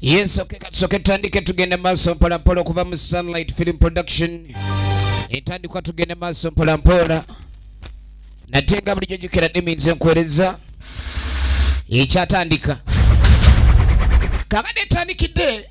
yesu kekatusoke tutandike tugende maaso mpolampola okuva mu sunlight film production entandikwa tugende maaso mpolampola nate nga bulijjo jukira diminzi enkuwereza ekyatandika kakade etandikidde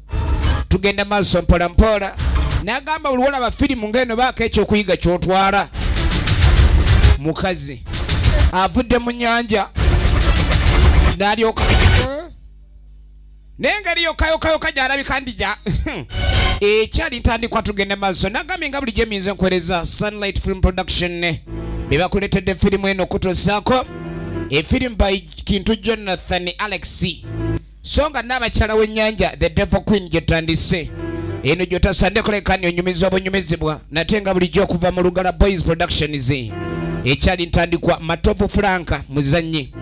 tugenda maaso mpola mpola nagamba buli wolaba firimu ngaeno baako ekyokuyiga kyotwala mukazi avudde mu nyanja nalyoka naye ngeri yokayokayoka gyalabika ndija ekyali ntandikwa tugenda maaso nagambye nga bulijjo emiyinza enkuwereza sunlight film production bebakuletedde firimu eno okutuusaako efirimu by kintu jonathan alexi so nga naabakyala w'ennyanja the devil queen gyetandise eno gyotasande kulekani onyumizibwa bunyumizibwa nate nga bulijjo okuva mu lugala boys productions ekyali ntandikwa matovu franka muzannyi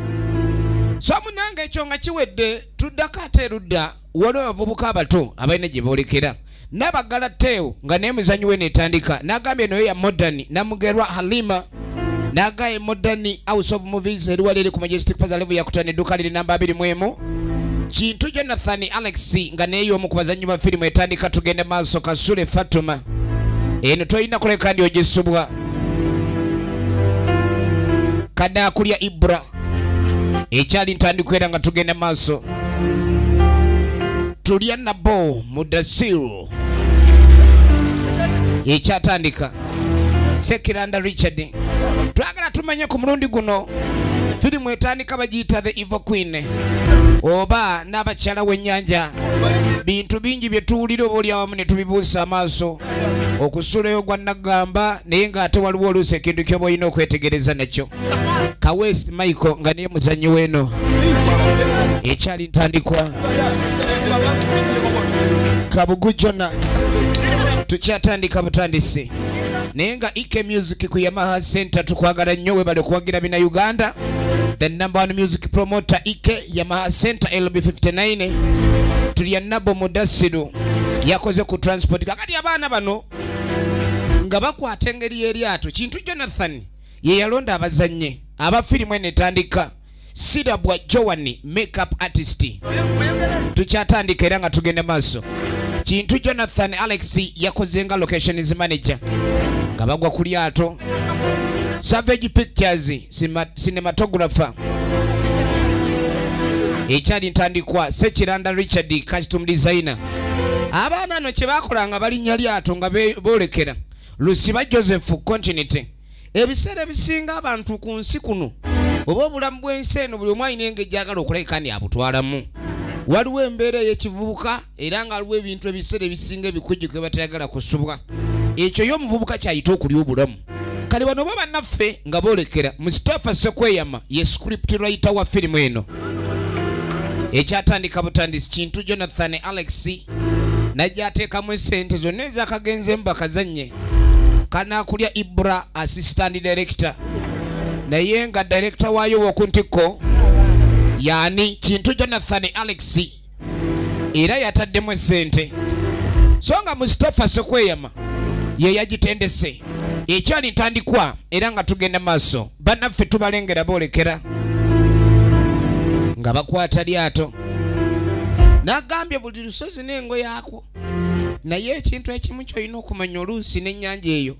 so munange ekyo nga kiwedde tuddako ate erudda waliwo abavubuka abato abalina gye boolekera nabagala teo nga naye muzanyi we netandika nagambye noyo ya modern namugerwa halima nagaye modern house of movies eriwaliri ku majestic paza levu yakutana edduka liri namba abiri mwemu kintu jonathan alex nga naye yomu ku bazanyi ba firimu etandika tugende maaso kasule fatuma eno tolina kuleka ndi ogisubwa kadakulya ibra ekyali ntandikwa era nga tugenda maaso tulya nabo mudasiru ekyatandika sekiranda richard twagala tumanye ku mulundi guno firimu etandika bagiyita the evo queen oba n'abakyala w'ennyanja bintu bingi bye tuwulira oba oli awamu ne tubibuusa amaaso okusuulayo gwa naggamba naye ng'ate waliwo oluusi ekintu ky'oba olina okwetegereza nakyo kaweesi michael nga niye muzannyi weeno ekyali ntandikwa kabugu jona tukyatandika butandisi naye nga ek music ku yamaha center tukwagala nnyo webale okuwagira bina uganda the number one music promoter ek yamaha center lb 59 tulya nabo mudasiru yakoze ku transport kakati abaana bano nga bakwata engeri y'eryato kintu jonathan ye yalonda abazannyi aba firimu eno etandika sirabwa joani makeup artist tukyatandika era nga tugenda maaso kintu jonathan alex yakoze nga locations manager nga bagwa ku lyato savage pictures cinematographer ekyali ntandikwa sekiranda richard custom designer abaana no kyebakola nga balinya lyato nga bolekera lusiba joseph continity ebiseera ebisinga abantu ku nsi kuno oba obulamu bw'ensi eno buli omu alina engeri gyagala okulabika ndi abutwalamu waliwo embeera ey'ekivubuka era nga waliwo ebintu ebiseera ebisinga ebikujjuko ebatayagala kusubwa ekyo yo omuvubuka kyayita okulya obulamu kale bano oba bannaffe nga boolekera musitafa sekweyama ye script writer wa firimu eno ekyatandika butandisi kintu jonathan alex najja ateekamu esente zonna ezakagenze mu bakazannye kanakulya ibra assistant director naye nga director waayo woku ntikko yani kintu jonathan alex era yataddemu esente so nga mustapha sekweyama ye yagitendese ekyali ntandikwa era nga tugenda maaso bannaffe tubalengera boolekera nga bakwata lyato nagambye buli lusozi n'engo yaakwo naye ekintu ekimu kyolina okumanya oluusi n'ennyanja eyo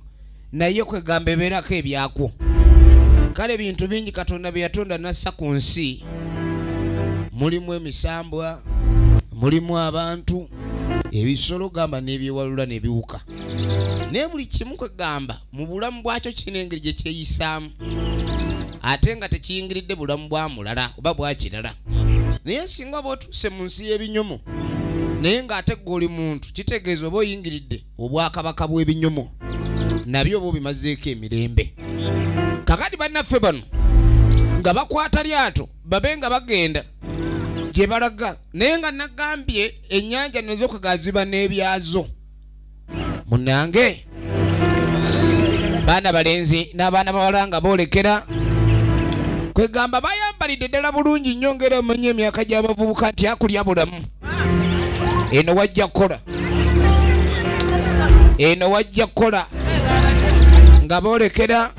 naye kwegamba ebeerako ebyakwo kale ebintu bingi katonda bye yatonda nassa ku nsi mulimu emisambwa mulimu abantu ebisolo gamba n'ebyewalula ne biwuka naye buli kimu kwegamba mu bulamu bwakyo kirina engeri gye kyeyisaamu ate nga tekiyingiridde bulamu bwa mulala oba bwakirala naye singa oba otuuse mu nsi y'ebinyomo naye ng'ate gwe oli muntu kitegeeza oba oyingiridde obwakabaka bw'ebinyomo nabyo oba obimazeeko emirembe kakati bannaffe bano nga bakwata lyato babe nga bagenda gye balaga naye nga nagambye ennyanja nezokugaziba n'ebyazo munange baana balenzi n'abaana bawala nga boolekera kwegamba bayambalidde ddala bulungi nnyo ngaera omanya emyaka gy'abavubuka nti akulya bulamu eno wajja kukola eno wajja kukola nga boolekera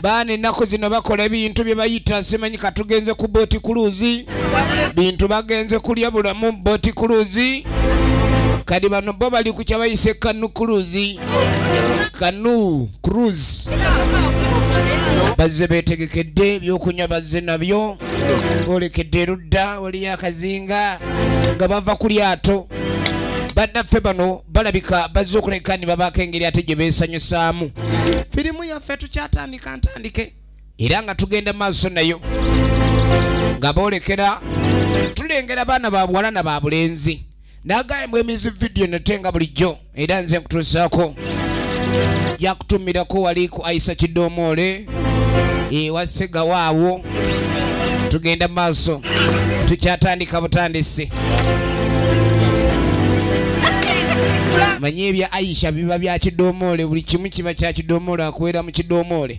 baana ennaku zino bakola ebintu bye bayita simanyi katugenze ku booti kuluuzi bintu bagenze kulya bulamu boti kuluzi kadi bano bo bali ku kyabayise kanu kuluzi kanu cruz bazze betegekedde ebyokunywa bazze nabyo bolekedde erudda waliyo akazinga nga bava ku lyato bannaffe bano balabika bazze okuleka ni babaako engeri ate gye beesanyusaamu firimu yaffe tukyatandika ntandike era nga tugenda maaso nayo nga boolekera tulengera baana ba buwala na ba bulenzi nagayembwa emizi vidiyo nate nga bulijjo era nze nkutuusaako yakutumirako wali ku aisa kidoomoole ewa segawaawo tugenda maaso tukyatandika butandisi manye ebya aisha biba bya kidomoole buli kimu kiba kya kidomoole akuwera mu kidomoole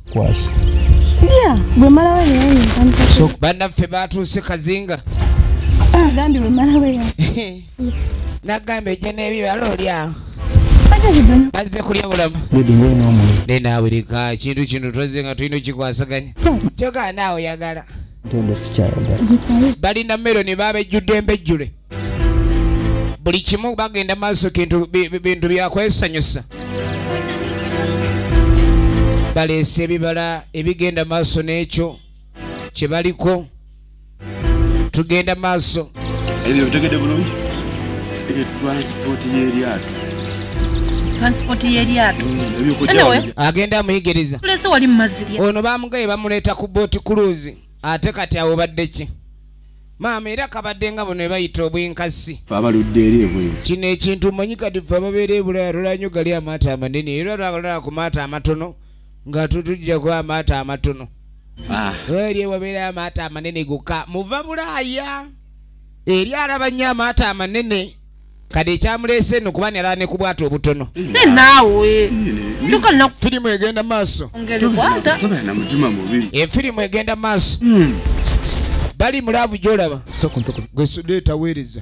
kwasa yeah bwe mala we yeye so banda fe batu se kazinga ah gambi bwe mala we ya na gambe je ne biba lo lya Baze kulya bulamu. Bibi ngwe no mu. Ne na wirika chintu chintu toze nga tuino chikwasaganya. Choka nawo yagala. Ntendo sikyayagala. Bali na mero ni babe judembe jure. buli kimu bagenda maaso kintu bi- bi- bintu byakwesanyusa baleese ebibala ebigenda maaso n'ekyo kye baliko tugenda maaso ebyo bitegedde bulungi ebyo transport y'eryato transport y'eryato Anyway, agenda amuyigiriza tulese wali mu mazzi lya ono bamugaye bamuleeta ku booti kuluzi ate kati awo badde ki maama era kabadde nga buno ebayita obwenkasi abaludde eri ebweru kino ekintu manyi kati fe ababeera ebulaya tulanyo gali amaato amanene era lwagalala ku maato amatono nga tutujjaku amaato amatono ah. eri ewabeera amaato amanene goka muva bulaya eri alaba nnyo amaato amanene kade ekyamuleese eno kuba nyalala ne kubwata obutono naawe firimu egenda maaso efirimu egenda maaso hmm. bali mulaavu gyolaba gwesudeeta weereza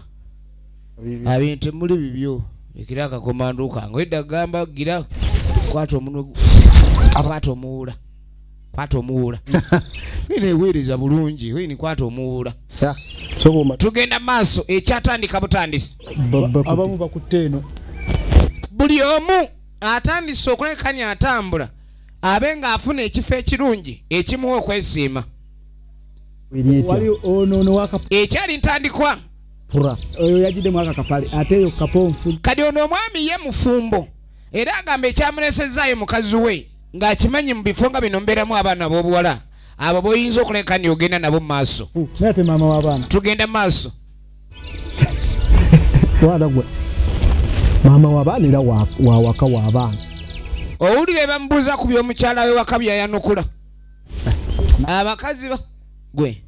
abintu muli bibyo ekira akakomandukange edda gamba gira kwata omunwe akwata omuwuula kwata omuwuula ina eweereza bulungi ini kwata omuwuula tugenda maaso ekyatandika butandisi abamu bakutte eno buli omu atandise okulekanya atambula abe ng'afuna ekifo ekirungi ekimuwa okwesiima ekyali ntandikwa kati ono omwami ye mufumbo era agamba ekyamulesezzaayo mukazi we ng'akimanyi mu bifo nga bino mbeeramu abaana ab'obuwala abo boyinza okuleka ni ogenda nabo mu maaso tugenda maaso maama wabaana era wawaka wabaana owulira ebamubuuza ku byomukyala we waka byayanukula abakazi gwe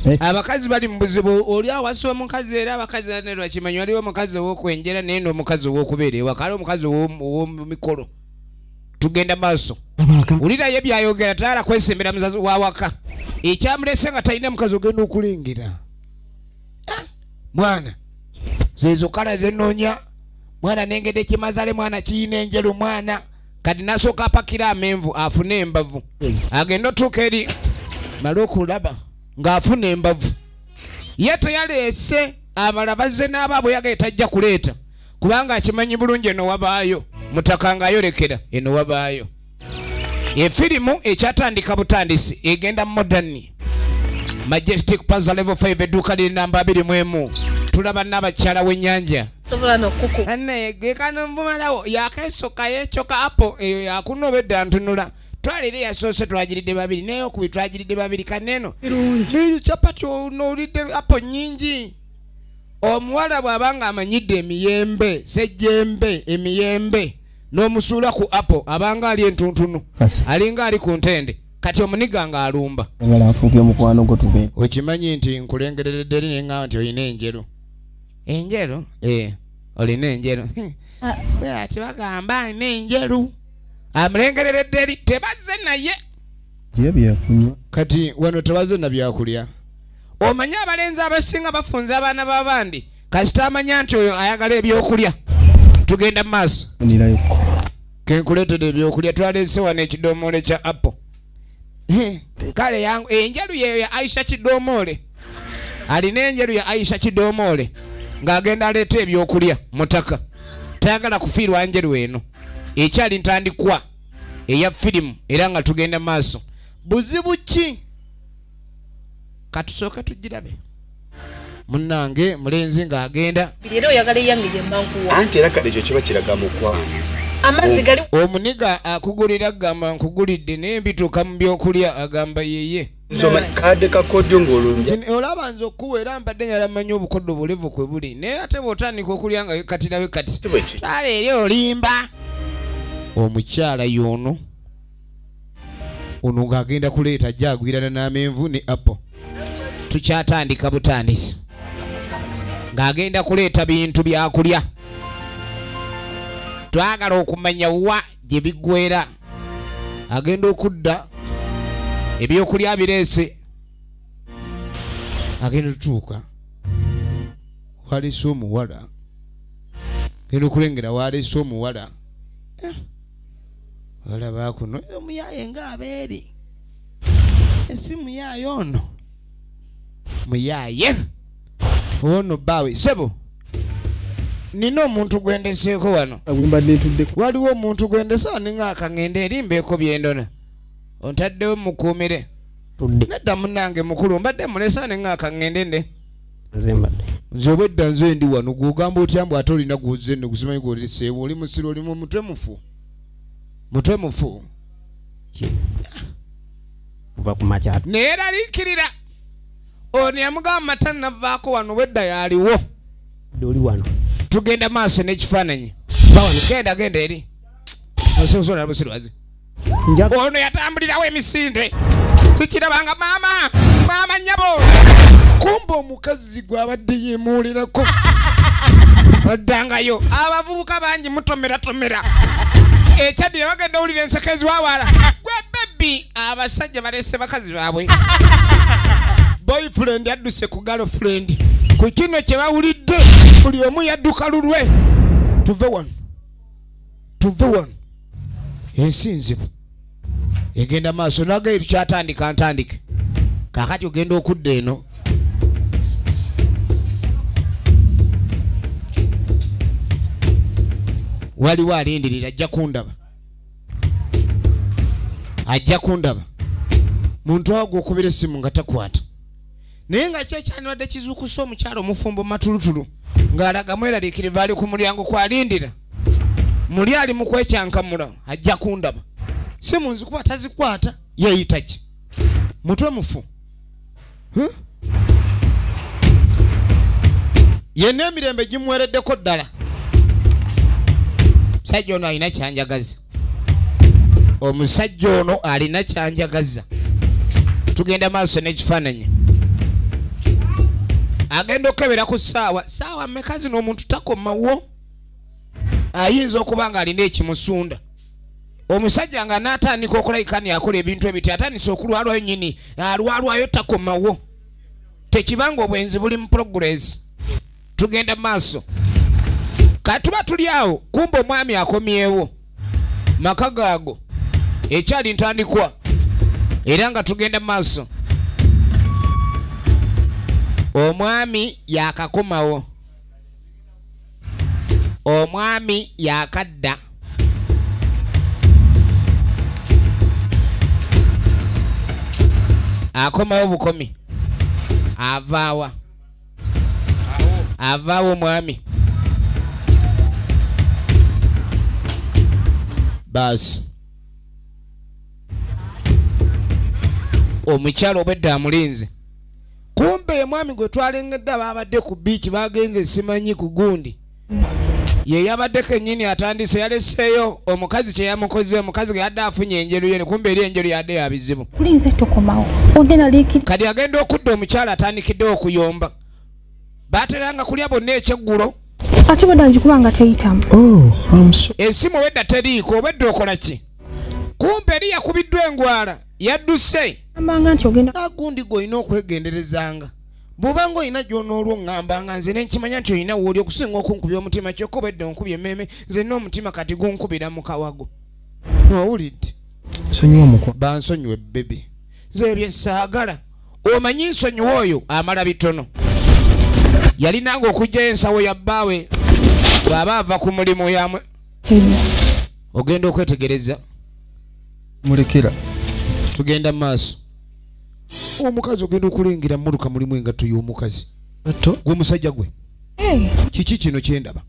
eh. abakazi bali mu buzibu oli awasa omukazi era abakazi nerwakimanyi waliwo omukazi owokwenjera naye nomukazi owokubeera ewaka ali omukazi owomumikolo tugenda maaso wulirayo ebyayogera tayala kwesembera muzazi wawaka ekyamulese nga talina mukazi ogenda okulengera ah, mwana zezo kala zenonya mwana nengede kimazale mwana kiyina enjelu mwana kati nasooka apakira amenvu afune embavu agenda otuuka eri mala okulaba ng'afuna embavu ye teyaleese abala bazze n'abaabwe yagaye tajja kuleeta kubanga akimanyi bulungi eno wabaayo mutaka nga ayolekera eno wabaayo efirimu ekyatandika butandisi egenda modani majestic paza level 5 edduuka liri namba 2 mu emu tulaba n'abakyala w'ennyanja anayegekanomumalawo yakesoka yecoka apo eyo yakuna obedda ntunula twalire yasoose twagiridde babiri naye okubi twagiridde babiri kaneeno capati onowulidde apo nyingi omuwala bw'aba nga amanyidde emiyembe sejjembe emiyembe n'omusuula ku apo abanga ali entuntunu alinga ali ku ntende kati omuniga nga alumba okimanyi nti nkulengereredderi ne nga nti olina enjeru enjeru ee olina enjeru ati bagamba alina enjeru amulengereredderi tebazze naye kati wano tebazze na byakulya omanyi abalenzi abasinga bafunza abaana babandi kasita amanya nti oyo ayagala ebyokulya tugenda mu maaso kenkuleetera ebyokulya twaleese wano ekidomoole kya apple kale yangu enjeru yeyo ya aisha kidomoole alina enjeru ya aisha kidomoole ng'agenda aleeta ebyokulya mutaka tayagala kufiirwa njeru eno ekyali ntandikwa eya firimu era nga tugenda maaso buzibu ki katusooke tugirabe munange mulenzi ng'agenda era oyagala eyangije mankuwa anti era kale ekyo kiba kiraga mukwa amazzi gali omuniga akugulira agamba nkugulidde naye mbituuka mu byokulya agamba yeye kade kakodyo ngololaba nze okuwa era mbadde nyala manyi obukoddo bulevu kwe buli naye ate bwotandika okulya nga katirawe kati tale eri olimba omukyala yoono ono ng'agenda kuleeta ajja agwirana n'amenvu ne apple tukyatandika butandisi ng'agenda kuleeta bintu byakulya twagala okumanya wa gye biggwera agenda okudda ebyokulya bireese agenda tutuuka waleese omuwala genda okulengera waleese omuwala eh. olaba kuno omuyaye nga abeeri esi muyaye ono muyaye ono bawe sebo nina omuntu gwendeseeko wano waliwo omuntu gwendese waninga akangende erimbeeko byendona ontaddewo mukuumire nedda munange mukulu mbadde mulesa ninga akangende nde nze obwedda nze ndi wano gwogamba otya mbu ate olina gwozze no gusimanyi gwoleseewo oli musiro oli mutwe mufu mutwe mufu naye era liikirira ono yamugamba mata navaako wano obwedda yaliwo oli wano tugenda maaso n'ekifaananyi genda genda eri osekusonala busirwazi ono yatambulirawo emisinde sikirabanga maama maama nyabo kumba omukazi gwabadde yemuulirako addangayo abavubuka bangi mutomeratomera ekyaddira bagenda owulira enseko eziwawala gwe bebi abasajja balese bakazi baabwe boyfriend adduse ku galofriend ku kino kyebawulidde buli omu yadduka lulwe tuve wano tuve wano ensi nzibu egenda maaso nagaye tukyatandika ntandike kakati ogenda okudda eno waliwo alindirira ajja kundaba ajja kundaba muntu awo gwokubira essimu nga takwata naye nga kyo kyandibadde kizuukusa omukyalo omufumbo matulutulu ng'alaga mweraliikiriva ali ku mulyango kwalindira muli ali mu kwekyankamula ajja kundaba si mu nzikuba tazikwata yeeyita ki mutwe mufu yenna emirembe gimuwereddeko ddala sajja ono alina kyanjagazi omusajja ono alina kyanjagaza tugenda maaso n'ekifaananyi agenda okukebera ku ssaawa ssaawa meka zino omuntu takomawo ayinza okuba nga alina ekimusunda omusajja nga natandika okulabika ni akola ebintu ebiti atandise okulwalwayo nyini alwalwayo takomawo tekibanga obwenzi buli mu progress tugenda mu maaso katuba tuli awo kumba omwami akomyewo maka gaago ekyali ntandikwa era nga tugenda mu maaso omwami yakakomawo omwami yakadda akomawo bukomi avaawa avaawo omwami baasi omukyalo obwedda amulinze kumbe omwami gwe twalengedde baabadde ku biiki bagenze simanyi ku gundi ye yabadde kennyini atandise yaleseeyo omukazi kye yamukoze omukazi ge yadde afunye enjeru yene kumbe eri enjeru yadde ya bizibu kati agenda okudda omukyala atandikidde okuyomba bateranga kulya bonna ekyeggulo ate bwedda ngikuba nga teyitamu oh, esimu obwedda teriiko obwedda okola ki kumpe eri yakubiddwa engwala yadduse agundi gwe olina okwegenderezanga bw'oba nga olina gy'onoolwo ŋŋamba nga nze ne nkimanya nti olina wooli okusinga okunkubya omutima kyokka oba edda onkubya emmeeme nze nna omutima kati gunkubira mu kawago owulidde bansonyiwe bebi nze ebyo saagala omanyi nsonyiwa oyo amala bitono yalinanga okugyayo ensawo ya bbaawe bw'aba ava ku mulimu yamwe ogenda okwetegereza mulekera tugenda mu maaso omukazi ogenda okulengera mmotoka mulimu engatto y'omukazi gwe musajja gwe eh. kiki kino kyendaba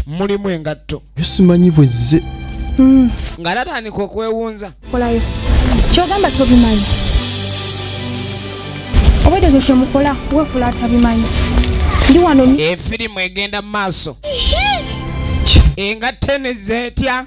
mulimu engatto simanyi bwezze hmm. nga tatandika okwewunza kolayo kyogamba tobimanyi obwedde ekyo kyemukola wekula atabimanyi ndi wano efirimu egenda mu maaso engatto enezeetya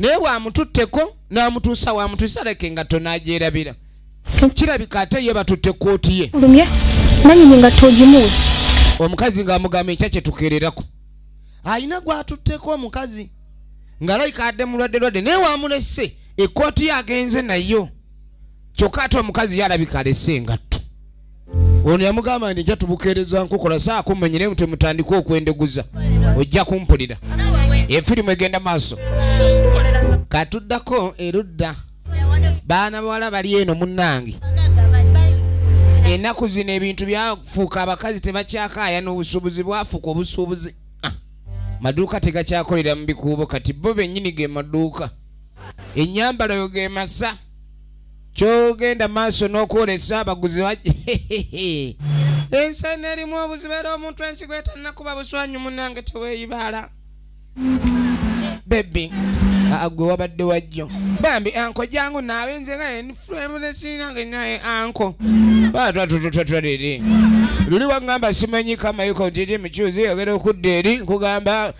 naye bwamututteko namutuusa wamutuusa leke nga tonagyerabira kirabika ate ye batutte kooti ye nanyini nga togimu omukazi ngaamugamba enkya kyetukererako alina gwatutteko omukazi nga layika adde mulwadde lwadde naye wamulese ekooti yagenze nayo kyokka ate omukazi yalabika alese engatto ono yamugamba nti nja tubukeereza nkukola saako mmenye naye mutwe mutandika okwendeguza ojja kumpulira efirimu egenda maaso katuddako erudda baana bawala bali eno munnange ennaku zino ebintu byafuuka abakazi tebakyakaaya n'obusuubuzi bwafuuka obusuubuzi ah, maduuka tegakyakolera mu bikuubo kati bo bennyini ge maduuka ennyambalayo ge masa kyogenda maaso n'okwolesa abaguzi ensaina erimu obuzibu era omuntu ensigo etanakuba buswanyu munange teweyibaala bebi agwe wabadde wajjo bambi anko jangu naabe nze nga enfremulesinange naye anko batwatututwatwaliri luli wagamba simanyi kamayiko ntiti mucuzi yogera okudda eri nkugamba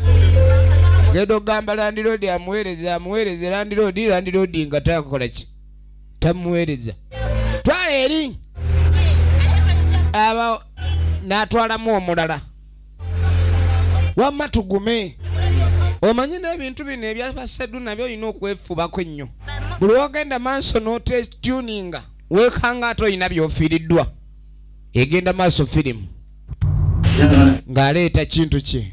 genda okugamba landiroodi amuweereza amuweereze landiroodi landiroodi nga takola ki tamuweereza twala eri aba n'atwalamu omulala wamma tugume omanyi n'ebintu bino ebyabaseddu nabyo olina okwefubako ennyo buli wogenda maaso n'otetuninga weekanga ate olina byofiiriddwa egenda maaso firimu ng'aleeta kintu kye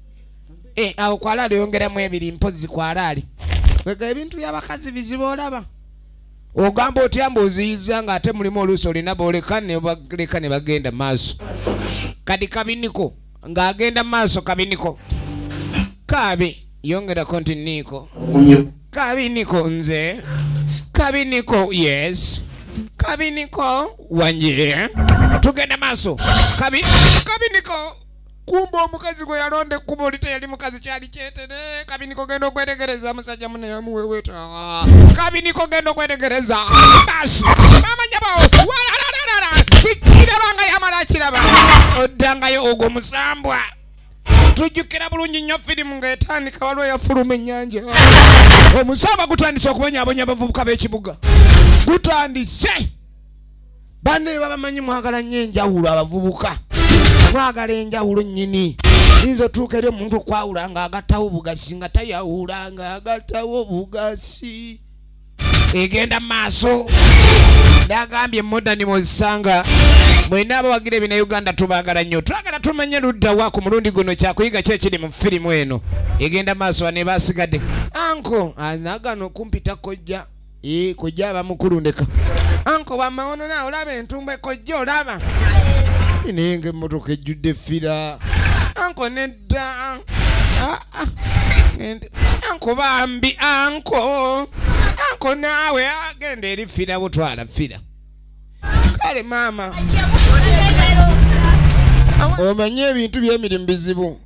Eh, awo kwalaali oyongeramu ebiri mpozi kwalaali wega ebintu byabakazi bizibu olaba ogamba otya mbu oziyiza nga ate mulimu oluusi olina boleka nebaleka ne bagenda maaso kadi kabiniko ng'agenda maaso kabiniko kaabi yongerako nti niiko kabiniko nze kabiniko yes kabiniko wanje tugenda maaso kabiniko kumba omukazi gwe yalonda ekkubo oli teyali mukazi kyali kyetere kabiniko genda okwetegereza musajja mune yamuweweta kabiniko genda okwetegereza basi amajabawo walalalala sikiraba nga yamala kiraba oddangayo ogwo musambwa tujjukira bulungi nnyo firimu ng'etandika waliwo yafuluma ennyanja omusamba gutandise okubonyabonya abavubuka b'ekibuga gutandise banne bye babamanyi mwagala nnyo enjawulo abavubuka mwagala enjawulo nnyini yinza otuuka eri omuntu okwawula nga agattawo obugasi nga tayawula nga agattawo obugasi egenda mu maaso nagambye modani muzisanga mwena abawagira ebina uganda tubagala nnyo twagala tumanye luddawa ku mulundi guno kyakuyiga ki ekiri mu firimu eno egenda maaso bane basigadde anko anagano ah, kumpita kojja ee kojja aba mukulu ndeka anko wamawono nawe olaba entumbe kojja olaba naye nga emmotoka ejjudde fira anko nedda ah, ah. anko bambi anko anko naawe agenda eri fira butwala fira kale maama omanye ebintu byemirimu bizibu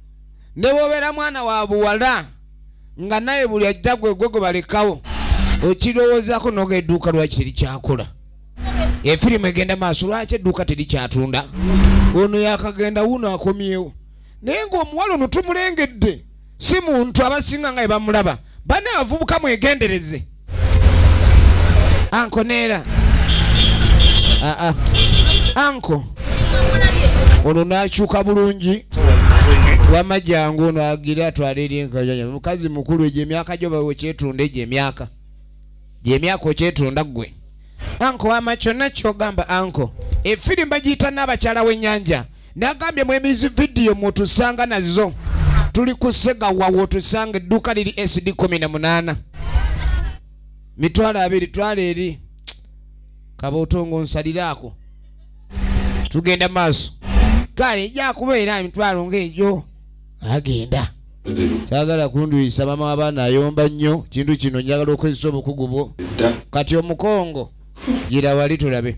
ne bwobeera mwana wa buwala nga naye buli ajja gwe gwe gwe balekawo okirowoozako noga edduuka lwaki terikyakola efirimu egenda maaso lwaki edduuka terikyatunda ono yakagenda wuno akomyewo naye ngaomuwala ono tumulengedde si muntu abasinga nga ebamulaba bane abavubuka mwegendereze anko neera aa ah, ah. anko ono nakyuka bulungi wama jangu ono agira atwala eri enkayanya mukazi mukulu egyo emyaka gyo bawe okyetunda egyo emyaka gyemyaka okyetunda ggwe anko wama kyonna kyogamba anko efirimba giyita n'abakyala w'ennyanja nagambye mwemizi vidiyo mwotusanga nazo tuli kusegawa wotusanga edduuka liri sd 18 mitwalo abiri twala eri kabootongo nsaliraako tugenda maaso kale ejakubeera emitwalo ngaegyo agenda sagala kunduyisa mama wabaana ayomba nnyo kintu kino njagala okozesa obukugu bwo kati omukongo gira wali tulabe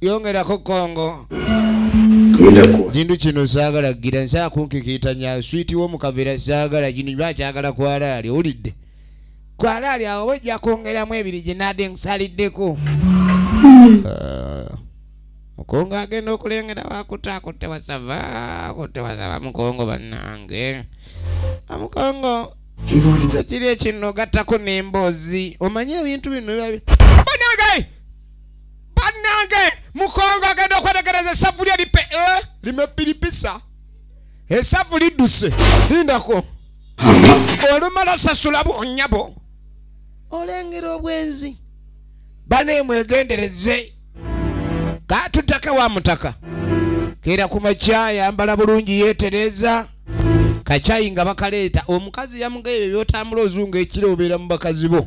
yongerako kongo kintu kino saagala gira nsaa kunkikiitanya switi wo mukavera saagala kino ba kyagala kwalaali owulidde kwalaali awo oba ojja kwongeramu ebiri gye naade nkusaliddeko mukongo agenda okulengera wakuta akutte wasava akutte wasava mukongo bannange amukongo kiri ekino gattako n'emboozi omanye ebintu bino biba banange mukongo agenda okwetegereza esavu lye lipe eh, limepiripisa esavu lidduse lindako olumala sasula bwonyabo olengera obwenzi banemwegendereze katutake wa mutaka kera ku makya yambala bulungi yetereza kakyayi nga bakaleeta omukazi yamugaye ebyo byotambula ozunga ekiro obeera mu bakazi bo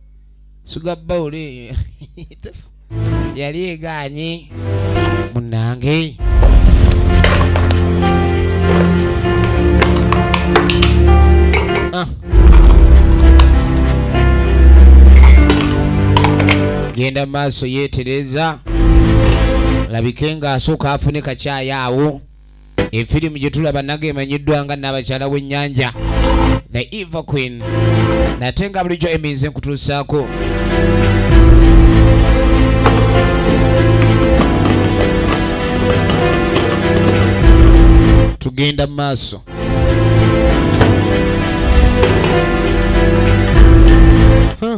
suga bawulo eyo yali eganye munange ah. genda maaso yetereza labike nga asooka afune kakyayo awo efirimu gye tulaba naga emanyiddwa nga naabakyala w'ennyanja the eva queen nate nga bulijjo eminze nkutuusaako tugenda mu maaso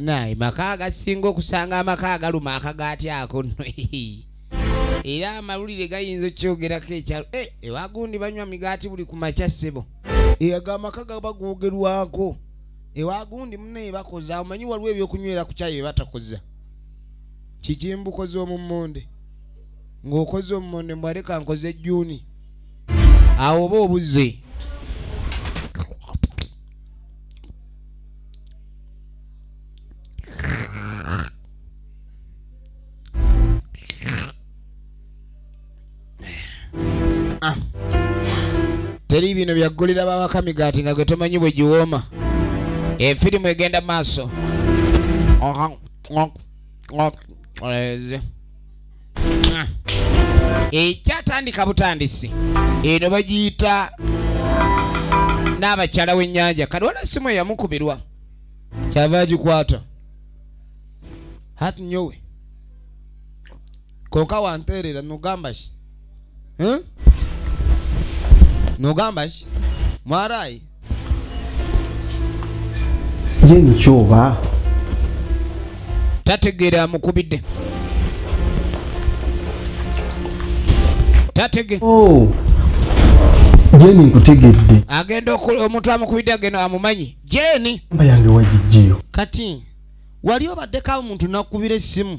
naye maka agasinga okusanga amaka agaluma akagaati ako no era amawulire gayinza okukyogerako ekyalo eh, ewagundi banywa migaati buli ku makya ssebo eyaga amaka gaba googerwako ewagundi munaye bakoza omanyi waliwo ebyokunywera ku kyayo batakoza kikimbukoze omummonde ng'okoze omummonde mbwaleka nkoze jjuuni awo oba obuze teri bino byaggulira bawaka migaati nga gwe tomanyi bwe giwooma efirimu egenda maaso ekyatandika eh, butandisi eno bagiyita n'abakyala w'ennyanja kati wala simu eyamukubirwa kyava agikwata hat nyowe koka wanteerera nogamba ki Eh? nogamba ki mwarayi ye nikyoba tategeera amukubidde tatege oh. jeni nkutegedde agenda omuntu amukubidde agenda amumanyi jeni mba yange wagijjeyo kati wali obaddeko awo muntu nakubira essimu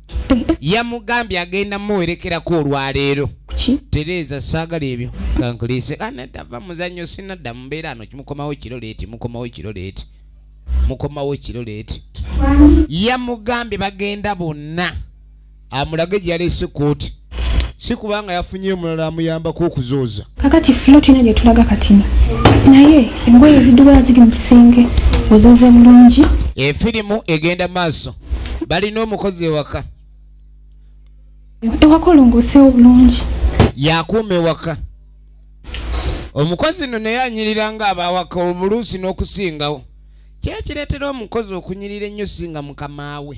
yamugambye agenda muwerekerako olwaleero tereeza saagala ebyo kankulise anadava ah, muzanyo sinadda mubeera ano kimukomawo kiro leeti mukomawo kiro leeti mukomawo kiro leeti yamugambye bagenda bonna amulage gyeyalese kooti si kubanga yafunye omulala amuyambako okuzooza kakati flo tulina gyetulaga katino naye engoye zidubala ziri mu kisenge ozooze bulungi efirimu egenda maaso balina omukozi ewaka ewaka olongoosewo bulungi yakuuma ewaka omukozi no naye anyirira nga abawaka obuluusi n'okusingawo kyekireetera omukozi okunyirira ennyo singa mukamaawe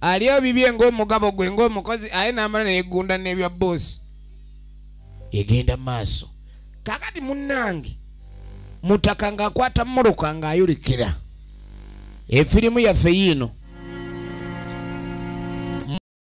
alya bibye ng'omugabo gwe ng'omukozi aye n'amala neyeggunda n'ebya boosi egenda maaso kakati munnange mutaka ng'akwata mmuruka ng'ayulikira efirimu yaffe yiino